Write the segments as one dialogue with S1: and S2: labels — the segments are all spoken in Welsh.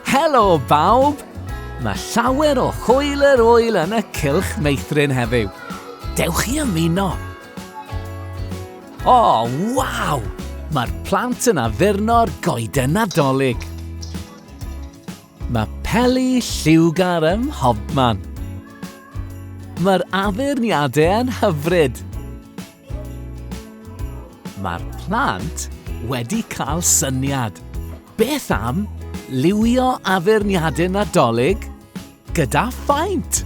S1: Helo bawb! Mae llawer o hwyl yr wyl yn y cylch meithrin heddiw. Dewch i ymuno! O, oh, waw! Mae'r plant yn addurno'r goeden nadolig. Mae peli lliwgar ym mhobman. Mae'r addurniadau yn hyfryd. Mae'r plant wedi cael syniad. Beth am liwio addurniadau Nadolig gyda phaent?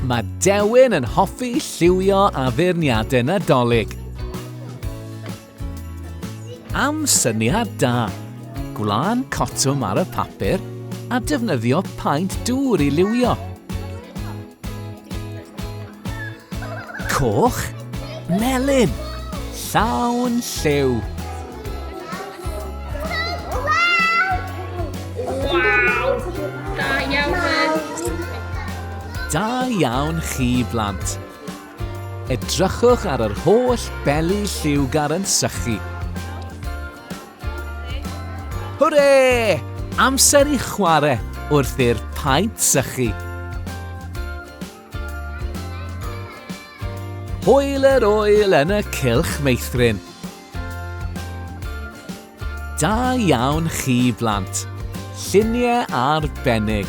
S1: Mae Dewin yn hoffi lliwio addurniadau Nadolig. Am syniad da! Gwlân cotwm ar y papur a defnyddio paent dŵr i liwio. Coch, melyn, llawn lliw. Da iawn chi blant. Edrychwch ar yr holl beli lliwgar yn sychu. Hwre! Amser i chwarae wrth i'r paent sychu. Hwyl yr oel yn y cylch meithrin. Da iawn chi blant. Lluniau arbennig.